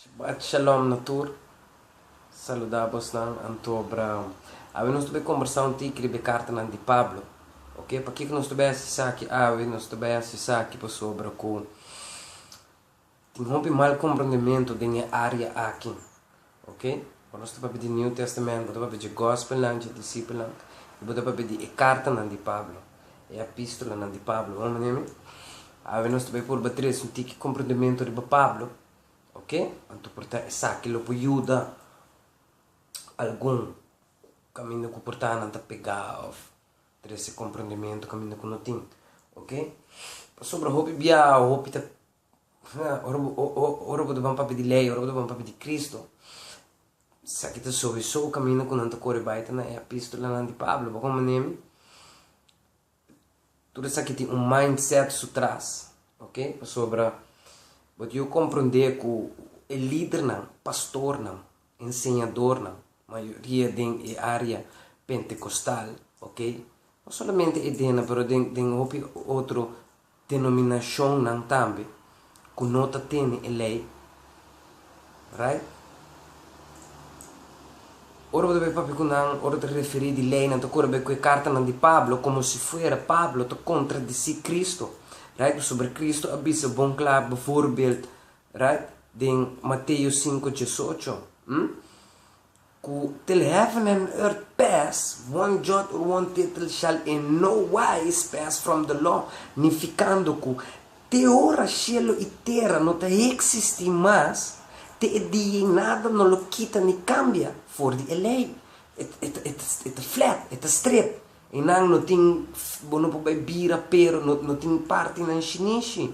Shabbat Shalom na tur, saluda bosnan anto Abraham. Awe nos ta bai kombersá un tiki riba e kartanan di Pablo, oke? Pakiko ku nos ta bai hasi esaki awe? Nos ta bai hasi esaki pasobra ku tin hopi mal komprondementu den e área aki. Ok, ora nos ta papia di New Testament, bo ta papia dje Gospelnan dje disipelnan, i bo ta papia di e kartanan di Pablo, e apistolanan di Pablo. Bo mane mi? Awe nos ta bai purba tres un tiki komprendementu riba Pablo, ok? Anto por ta esaki lo por yuda algun kaminda ku portannan ta pegá òf trese komprendementu kaminda ku no tin, ok? Pasobra hopi biaha, hopi ta Ora bo ta ban papia di lei, ora bo ta ban papia di Kristu, esaki ta soweso kaminda ku nan ta kore bai ta na e epistolanan di Pablo. Bo kon manera mi? Tur esaki tin un mindset su tras, oke? Pasobra bo debe komprende ku e lidernan, pastornan, enseñadornan, mayoria den e área pentekostal, oke, no solamente e dennan, pero den, den hopi otro denominashonnan tambe ku no ta tene e lei, right? Ora bo ta bai papia ku nan, ora bo ta referí di lei, nan ta kore bai ku e kartanan di Pablo, komo si fuera Pablo ta kontradisí Kristu, right? Pasobra Kristu a bisa bon kla, bivoorbeld. Right den Mateo sinku diesocho, hm? Ku til heaven and earth pass, one jot or one tittle shall in no wise pass from the law, nifikando ku te ora shelu i tera no ta heksistí mas, te e dia ei nada no lo kita ni kambia for di e lei. E ta flat, e ta stret. Einan no tin, bo no por bai bira pero, no tin partinan shinishi.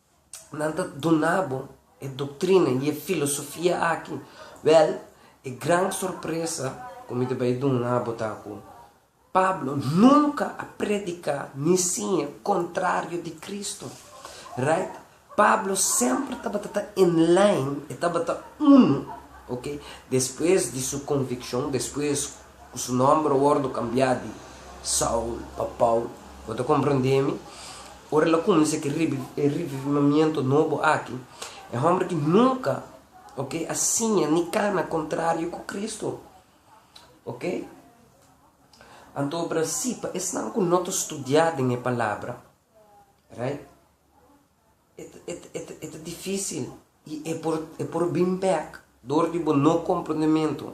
Nan ta duna bo e doktrina i e filosofia aki. Wèl, e gran sorpresa ku mi ta bai duna bo ta ku Pablo nunka a prediká ni siña kontrario di Kristu. Raight? Pablo semper tabata ta en lain, e tabata unu, oke, despues di su konvikshon, despues Ku su nòmber wòrdu kambiá di Saul pa Paul. Bo ta komprendé mi? Ora el a kuminsá ku e revivimiento nobo aki, e hòmber ki nunka, oke, a siña ni kana kontrario ku Kristu, oke, anto obra así pa esnan ku no ta studiá den e Palabra, right? E ta difísil i e por bin bèk dor di bo no komprondementu.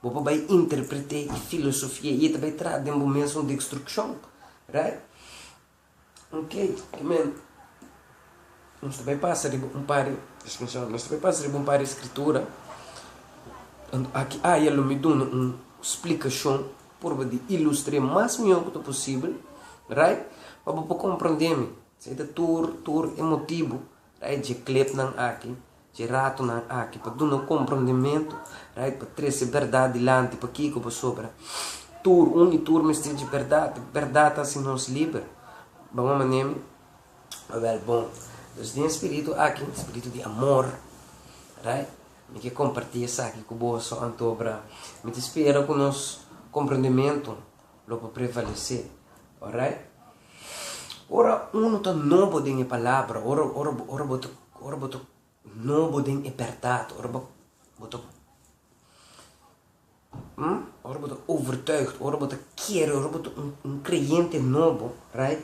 Bo por bai interpret'é i filosofia i e ta bai traha den bo mes un dekstrukshon. Right? Oke, kimen nos ta bai pasa riba un par di, distinshon, nos ta bai pasa riba un par di Skritura. Aki aya lo mi duna un splikashon purba di ilustr'é mas mihó ku ta posibel, right, pa bo por komprondé mi. Esaki ta tur tur e motibu right dje klepnan aki, dje ratonan aki pa dun'o komprondementu right pa trese bèrdat dilanti pakiko pasobra tur un i tur mester dje bèrdat e bèrdat ta hasi nos liber bon un manera mi a wèl bon dus den e spiritu aki e spiritu di amor right mi ke komparti esaki ku boso anto obra mi ta spera ku nos komprondementu lo por prevalesé orait. Ora unu ta nobo den e palabra, ora, ora, ora bo ta, ora bo ta nobo den e bèrdat, ora bo, bo ta, hm, ora bo ta overtuigd, ora bo ta kere, ora bo ta un, un kreyente nobo, right,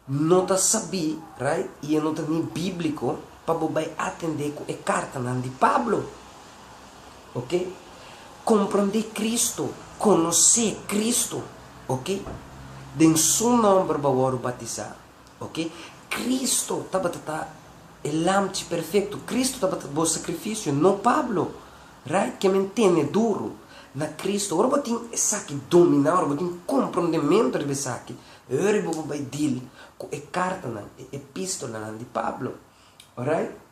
no ta sabí, right, i e no ta ni bíbliko pa bo bai atendé ku e kartanan di Pablo. Ok. Comprende Cristo, conoce Cristo, ok. Den Su nomber bo a wòrdu batizá, ok. Cristo tabata ta e lamchi perfecto, Cristo tabata bo sacrificio, no Pablo, right? Ke men tene duro na Cristo. Ora bo tin esaki dominá, ora bo tin comprendemento riba esaki, e ora bo bo bai deal cu e cartanan, e epistolanan di Pablo, alright.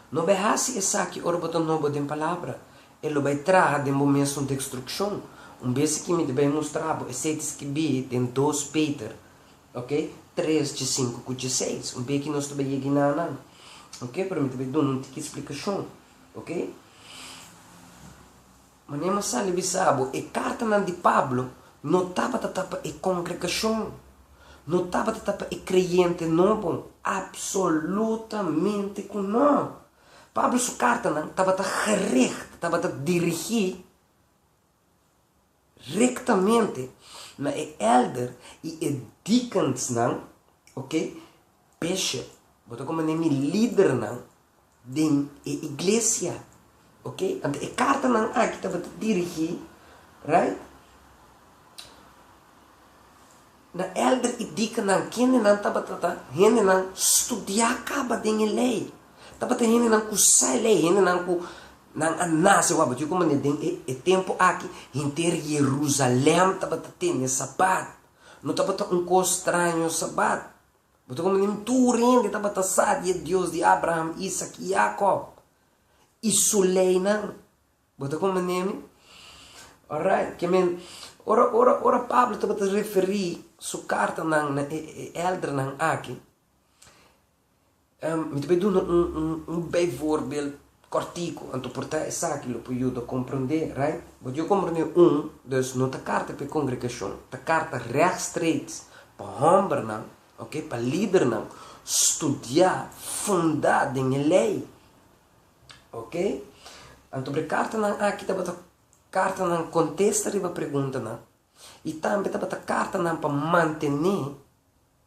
No bai hasi esaki ora bo ta nobo den Palabra. E lo bai traha den bo mes un dekstrukshon. Un bes aki mi ta bai mustra bo esei ta skibi den dos Peter, ok, tres dje sinku ku dje seis. Un be aki nos ta bai yega i na nan, ok, pero mi ta bai duna un tiki splikashon, ok. Mane mas sali bisa bo, e kartanan di Pablo no tabata ta pa e kongregashon, no tabata ta pa e kreyente nobo. Apsolutamente ku no! Pablo su kartanan tabata gericht, tabata dirigí rektamente na e èlder i e dikensnan, oke, Peshe, bo ta komo ne mi lidernan den e iglesia, ok? Anto e kartanan aki tabata dirigí, right, na èlder i dikanan, kendenan tabata ta hendenan studiá kaba den e Lei, tabata hendenan ku sa e Lei, hendenan ku nan a nase wak. Bo ta yui komo ne den e tempu aki henter Yerusalèm tabata tende Sabat, no tabata un kos straño Sabat. Bo ta komo nin tur hende tabata sa di e Dios di Abraham, Isak i Yakòb i su leinan. Bo ta komo nen mi? Orait, ke men. Ora, ora, ora Pablo tabata referí su kartanan na e, e, e èldernan akí, Mi ta bai duna un bijvoorbeeld kòrtiku, anto por ta esaki lo por yuda komprendé, right? But yo komprendé un, dus no ta karta pa e kongregashon, ta karta regstreeks pa hòmbernan, ok, pa lidernan studiá fundá den e lei, ok. Anto por e kartanan aki tabata kartanan kontesta riba preguntanan i tambe tabata kartanan pa mantené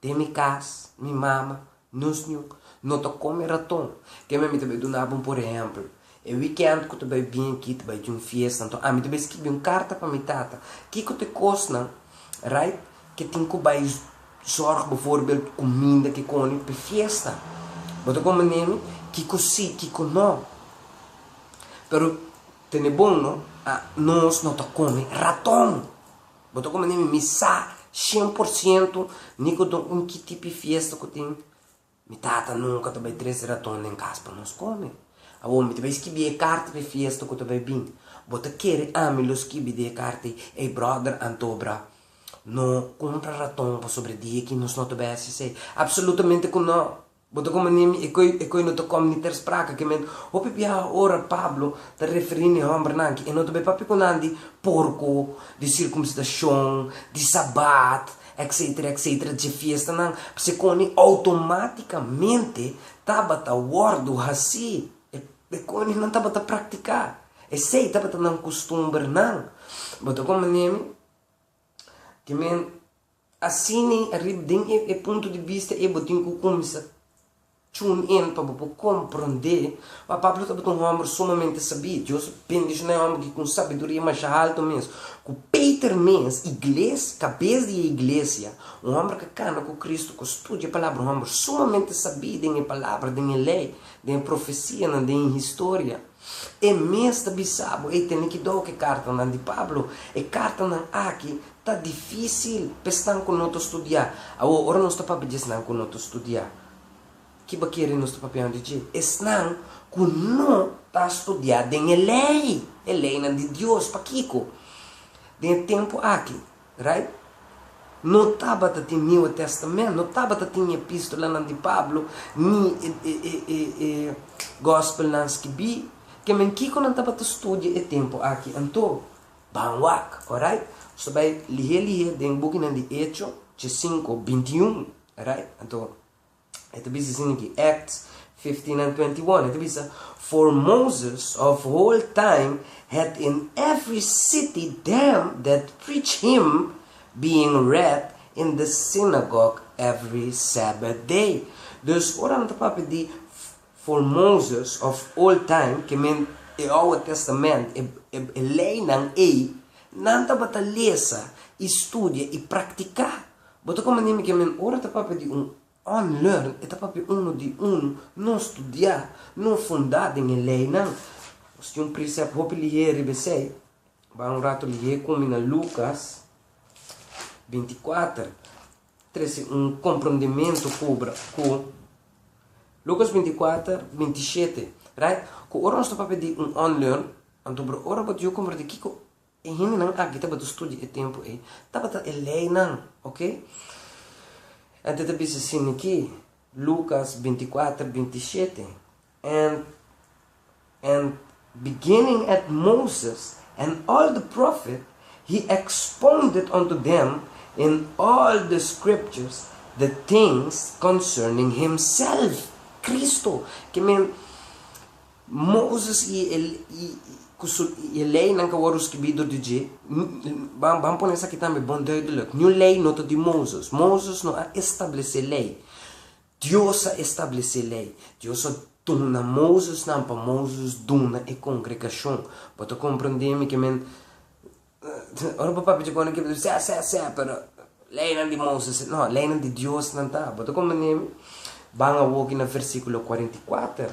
Den mi cas, mi mama, nos niun, no ta come raton. Kema mi ta bai duna bo un por ehemplo. E weekend cu ta bai bien aki ta bai tin un fiesta, enton ami ta bai skibi un carta pa mi tata, kico ta e cosnan, right, ke tin cu bai zorg bevoorbeeld cuminda kikoni p'e fiesta. Bo ta comprende mi? Kico si, kico no. Pero tene bon no, nos no ta come raton. Bo ta komo nimi, mi sa shen por siento nicodon un ki tipi fiesta ku tin. Mi tata nunka ta bai tres raton den kas pa nos kome. Awor mi ta bai skibi e karta di fiesta ku ta bai bin. Bo ta kere ami lo skibi di e karta ei? Ey bròder Antobra, no kumpra raton pasobra di aki nos no ta bai hasi esei. Apsolutamente ku no! Bo ta komo nimi, e koe e koe no ta kom ni ter spraka ke men. Hopi biaha ora Pablo ta referí ne hòmbernan ki e no ta bay papia ku nan di porko, di sirkumsidashon, di sabat, etsetera, etsetera, dje fiestanan, p'esei koni outomátikamente tabata wòrdu hasí. E e koni nan tabata praktiká. Esei tabata nan kustumbernan. Bo ta komo nimi, ke men. Asina i ariba den e punto di bista ei bo tin ku kuminsa tune in pa bo por komprondé pa Pablo tabata un hòmber sumamente sabí. Dios a bendishoná e hòmber ki ku un sabiduria masha alto mes. Ku Peter mes, igles, kabes di e iglesia, un hòmber ku a kana ku Kristu, ku a studia e Palabra, un hòmber sumamente sabí den e Palabra, den e lei, den e profesianan, den e historia. E mes ta bisa bo ei tene ki dou ke kartanan di Pablo. E kartanan aki ta difisil pa esnan ku no ta studiá. Awor, ora nos ta papia di esnan ku no ta studiá, ki bo a kere nos ta papiando di dje? Esnan ku no ta studiá den e lei, e leinan di Dios. Pakiko? Den e tempu aki. Right? No tabata tin Nieuwe Testament, no tabata tin e epistolanan di Pablo ni e e e e e Gospelnan skibí. Ke men kiko nan tabata studia e tempu aki anto? Ban wak, orait? So bai lihé lihé den bukinan di Echo, chi sinku, binti un, orait? Anto, E ta bisa sin aki, Acts fifteen and twenty one, e ta bisa, For Moses of old time had in every city them that preached him, being read in the synagogue every sabbath day. Dus ora nan ta papia di For Moses of old time, ke men e Oud Testament, e leinan ei, nan tabata lesa i studia i praktiká Bo ta komand'é mi ke men ora ta papia di un unlearn, e ta papia unu di unu, no studiá, no fundá den e leinan. Nos tin un presèp hopi lihé riba esei. Bai un ratu lihé ku mi na Lukas binti kuater. Trese un komprondementu kubra ku Lukas binti kuater binti shete, right? Ku ora nos ta papia di un unlearn, anto bro, ora bo ta yu komprondé kiko E hendenan aki tabata studia e tempu ei, tabata e leinan, oke? Enta ta bisa sin niké, Lukas binti kuater binti shete, en, en, beginning at Moses and all the profet, he expounded unto them in all the scriptures the things concerning himself, Kristu, ke men, Moses i e leinan ka wòrdu skirbí dor di dje. Ban pone esaki tambe bon duidelik, Niun lei no ta di Moses. Moses no a establesé lei. Dios a establesé lei. Dios a duna Moses nan pa Moses duna e kongregashon. Bo ta komprendé mi ke men ora bo papia dje kòne ke bo ta bisti, Sè, sè, sè, pero leinan di Moses e. No, leinan di Dios nan ta. Bo ta komprendé mi? Ban awor ki na versíkulo kuarenta i kuater.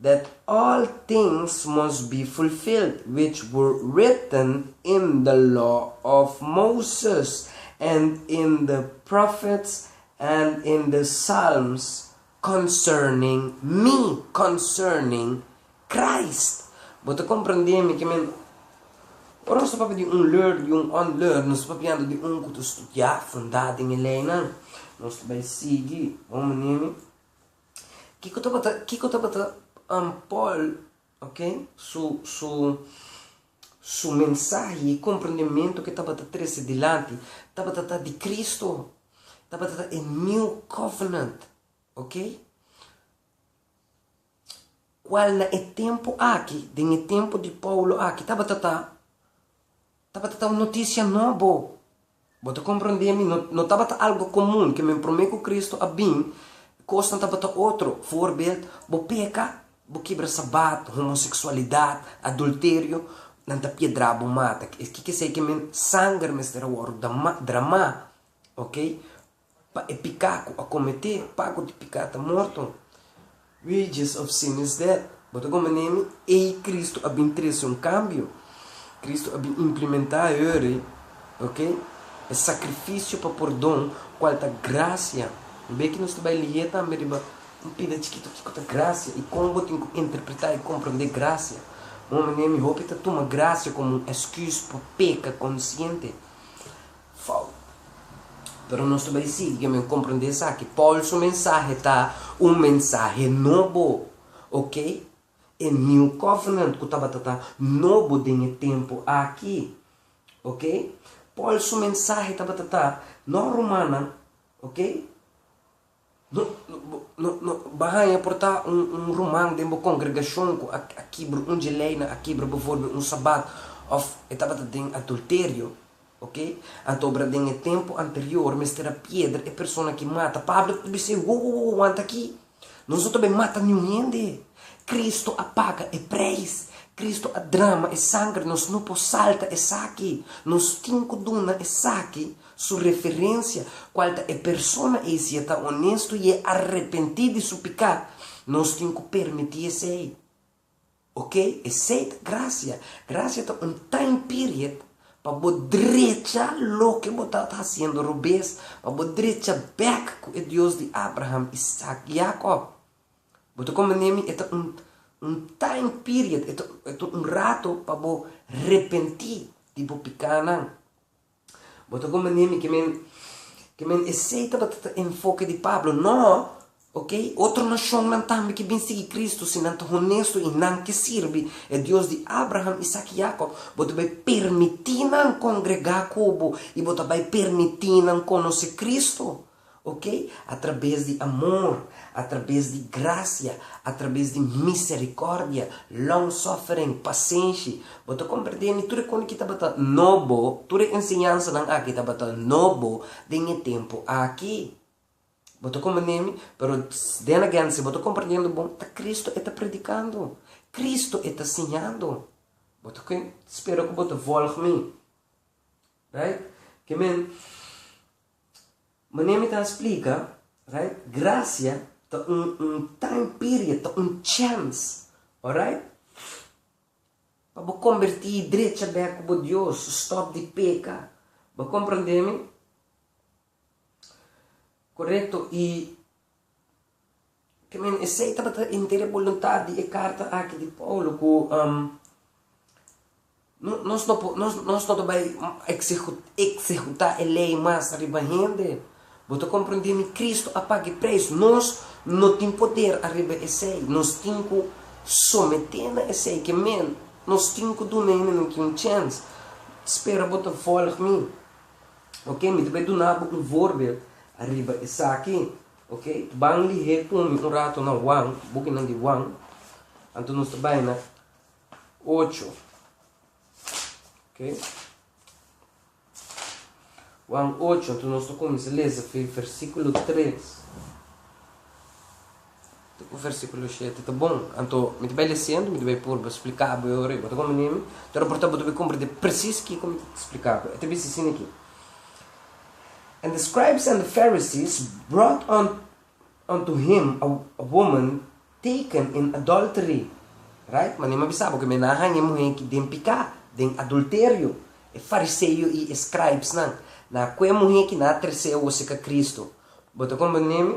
that all things must be fulfilled which were written in the law of Moses, and in the prophets, and in the psalms concerning mi, concerning Christ. Bo ta komprendé mi ke mi no? Ora nos ta papia di un learner i un unlearner, nos ta papiando di un ku ta studiá fundá den e leinan. Nos ta bai sigui. Bo mira mi? Kiko tabata kiko tabata um Pòl ok su su su mensahe i komprendementu ke tabata trese dilanti? Tabata ta di Kristu, tabata ta e New Covenant ok kual na e tempu aki den e tempu di Paulu aki tabata ta. Tabata ta un notisia nobo. Bo ta komprendé mi, no tabata algu komun ke men promé ku Kristu a bin, kosnan tabata otro. Voorbeeld, bo peka, bo kibra sabat, homoseksualidat, adulterio, nan ta piedra'bo bo mata. Kiko kiesei ke men sanger mester a wòrdu dramá, oke? Pa e piká ku a kometé, pago di piká ta morto, wages of sin is death. Bo ta gominé mi? Ei Kristu a bin trese un kambio. Kristu a bin implimentá eri, ok, e sakrifisio pa pordon, kual ta grasia. Bo bai aki nos ta bai lihé tambe riba un pida chikitu kiko ta grasia i kon bo tin ku interpretá i komprondé grasia. Bo gominé mi? Hopi ta tuma grasia komo un èsküs pa peka konsiente. fout. Pero nos ta bai sigui ki'en men komprendé esaki. Pòl su mensahe ta un mensahe nobo, ok? E New Covenant ku tabata ta nobo den e tempu aki, ok? Pòl su mensahe tabata ta, No rumannan, ok? Bo haña por ta un ruman den bo kongregashon ku a kibra un dje lei, nan a kibra bivorbel un sabat òf e tabata den adulterio, oke? Anto obra den e tempu anterior mester a piedra e persona ki mata. Pablo ta bisa ei, Wo, wo, wo, wanta aki! Nos no ta bai mata niun hende. Kristu a paga e preis. Kristu a drama e sangre. Nos no por salta esaki. Nos tin ku duna esaki. Su referencia, cual ta e persona ey si e ta honesto y e arrepenti di su pica, nos tin cu permiti esey. Ok, esey ta gracia. Gracia ta un time period pa bo drecha loke bo tabata haciendo robes, pa bo drecha bek cu e Dios di Abraham, Isaac y Jacob. Bo ta comprende mi? E ta un un time period, e ta un rato pa bo repenti di bo picanan. Bo ta kuma niami ke men, ke men esei tabata ta enfoke di Pablo? No! Oke, otro nashonnan tambe ke bin sigui Kristu, si nan ta honestu i nan ke sirbi e Dios di Abraham, Isak i Yakob, bo ta bai permití nan kongregá ku bo i bo ta bai permití nan konosé Kristu. Oke, atrabes di amor, atrabes di grasia, atrabes di misericordia, long-suffering, pasenshi, bo ta combert'é ni tur e cone ki tabata nobo, tur e enseñansanan aki tabata nobo den e tempo aki. Bo ta combert'é mi, pero den again si bo ta comprendiendo bon, ta Cristo e ta predicando, Cristo e ta siñando. Bo ta spera cu bo ta volg mi, right? Ke men. Mane mi ta splica, right, gracia ta un un time period, ta un chance, alright, pa bo comberti drecha bek cu bo Dios, stop di peca, bo comprende mi? Corecto, y Te men esei tabata inter e boluntat di e karta aki di Paulu ku nos no por nos no ta bai eksekutá e lei mas riba hende. Bo ta komprendé mi Kristu a paga e preis. Nos no tin poder ariba esei. Nos tin ku someté na esei. Ke men, nos tin ku duna hende nan ki un chèns. Spera bo ta vòlg mi. Oke, mi ta bai duna bo un vorbel ariba esaki. Ok, ban lihé kumi un rato na Wang, bukinan di Wang. Anto nos ta bai na ocho. Ok. Wang ocho, anto nos ta kuminsá lesa fen versíkulo tres. Tur ku versíkulo shete ta bon. Anto, mi ta bai lesiendo, mi ta bai purba splika bo e ora ei. Bo ta komprendié mi? Tur oportunidat bo ta bai komprendié presis kiko mi ta splika bo. E ta bisa asin aki, And the scribes and the Pharisees brought unto him a woman taken in adultery. Right? Manera mi a bisa bo ku mi a na haña e muhé aki den piká, den adulterio. E fariseo i e scribesnan na kue e muhé aki na tres'é woseka Kristu. Bo ta komprendié mi?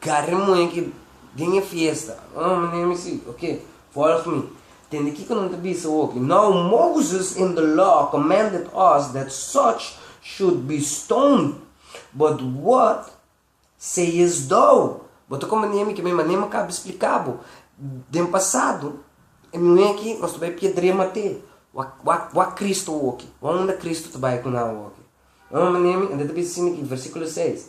Garra e muñequito den e fiesta. Oh, mi ne'e mi si, ok, volg mi. Tende kico nan ta bisa hopi. Now Moses in the law commanded us that such should be stoned, but what sayest thou? Bo ta conveni ami cu mi manera mi acaba di splica bo den pasado, e muñequi nos ta bai piedrea mat'e. Wa, wa, wa Cristo hopi. Wa unda Cristo ta bai cu nan hopi? Oh, mi ne'e mi, e ta bisa asina aki, versiculo seis.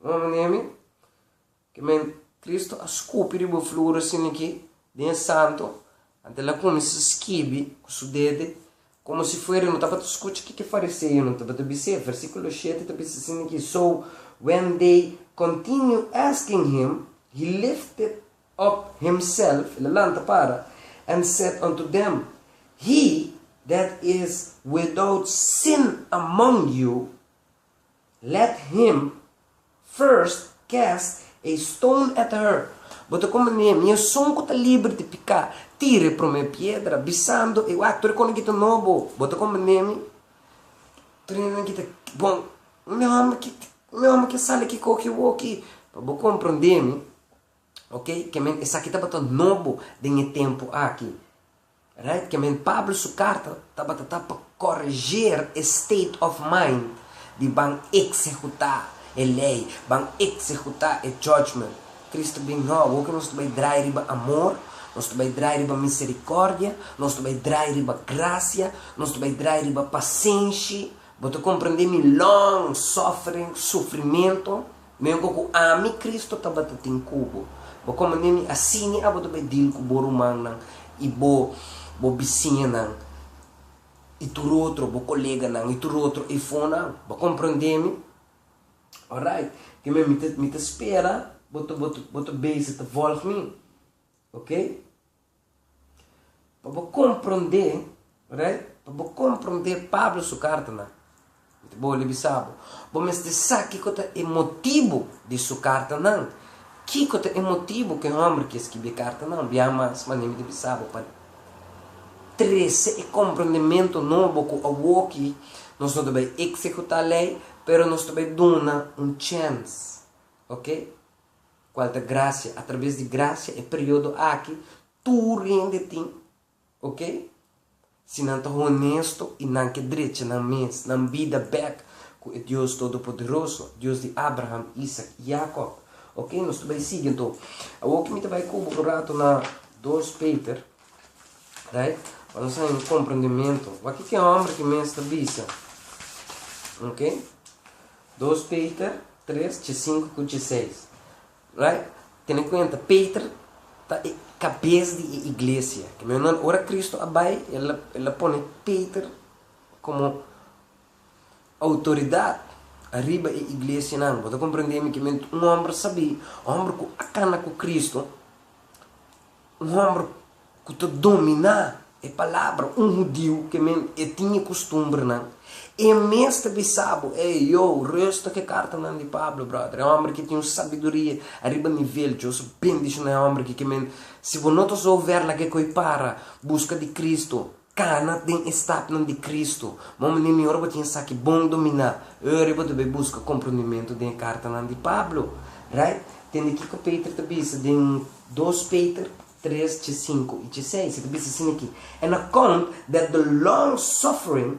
Un omi nemi, ki men Kristu a skupi riba flura sin liki den e santu, anto el a kuminsá skibi ku su dede, komo si fuera e no tabata skucha kiko e fariseonan tabata bis'é. Versíkulo shete ta bisa sin liki, So, when they continue asking him, he lifted up himself, el a lanta para, and said unto them, He that is without sin among you, Let him, first, cast a stone at her, Bo ta komo Nehemia, un esun ku ta liber di piká, tira e promé piedra, bisando, E wak, tur e kos nan ki ta nobo, bo ta komo Nehemi, tur e nan ki ta bon, un homber ki un homber ki a sali aki koke bo aki. Pa bo komprondémi, oke, ke men esaki tabata nobo den e tempu aki. Right ke men Pablo su karta tabata ta pa koreger e state of mind di ban eksehutá e lei, ban eksehutá e judgment. Kristu bin hòb, hopi nos ta bai drai riba amor, nos ta bai drai riba miserikòrdia, nos ta bai drai riba grasia, nos ta bai drai riba pasenshi. Bo ta komprendé mi long suffering, sufrimentu? Mihor ku ami, Kristu, tabata tin ku bo, bo kome mi, mi asina abo ta bai dil ku bo rumannan i bo, bo bisiñanan i tur otro, bo koleganan i tur otro eifonan. Bo komprondé mi? Orait, te mi, mi ta, mi ta spera bo ta, bo ta, bo ta beise ta vòlg mi. Oké? Pa bo komprondé, right, pa bo komprondé Pablo su kartanan, mi ta bo ribisá bo, bo mester sa kiko ta e motibu di su kartanan. Kiko ta e motibu ku e hòmber ke skibi e kartanan? Bia mas, manera mi ta bisa bo, pa trese e komprondementu nobo ku awoki nos no ta bai eksekutá lei, pero nos ta bai duna un chèns, oke. cual ta gracia. A traves di gracia e periodo aki tur hende tin, ok? Si nan ta honesto y nan ke drecha nan mes, nan bida bek cu e Dios Todopoderoso, Dios di Abraham, Isaac y Jacob, ok? Nos ta bay sigui anto. Awo ke mi ta bay cu bo un rato na dos Peter, right? Pa nos haña un comprendemento. Wak kiko e homber ke mes ta bisa, ok? Dos Peter tres chi sinku ku chi seis right tene kuenta Peter ta e kabes di e iglesia ke menos ora Kristu a bai el a pone Peter komo outoridat ariba e iglesianan bo ta komprendemi ke men un hòmber sabí hòmber ku a kana ku Kristu. Un homber cu ta dominá e palabra, un hudiu, ke men e tin e custumbernan, e mes ta bisa bo, Ey, yo, rusta cu e cartanan di Pablo, brother. E homber ke tin un sabiduria ariba nivel Dioso bendiciona e homber aki, ke men, si bo no ta zo ver lag'e cu ey para busca di Cristo, Kana den e stapnan di Kristu. Bo mane mi ora bo tin esaki bon dominá, e ora ei bo ta bai buska komprondimentu den e kartanan di Pablo. Right? Tende kiko Peter ta bisa den Dos Peter tres dje sinku i dje seis. E ta bisa sin aki, En account that the long suffering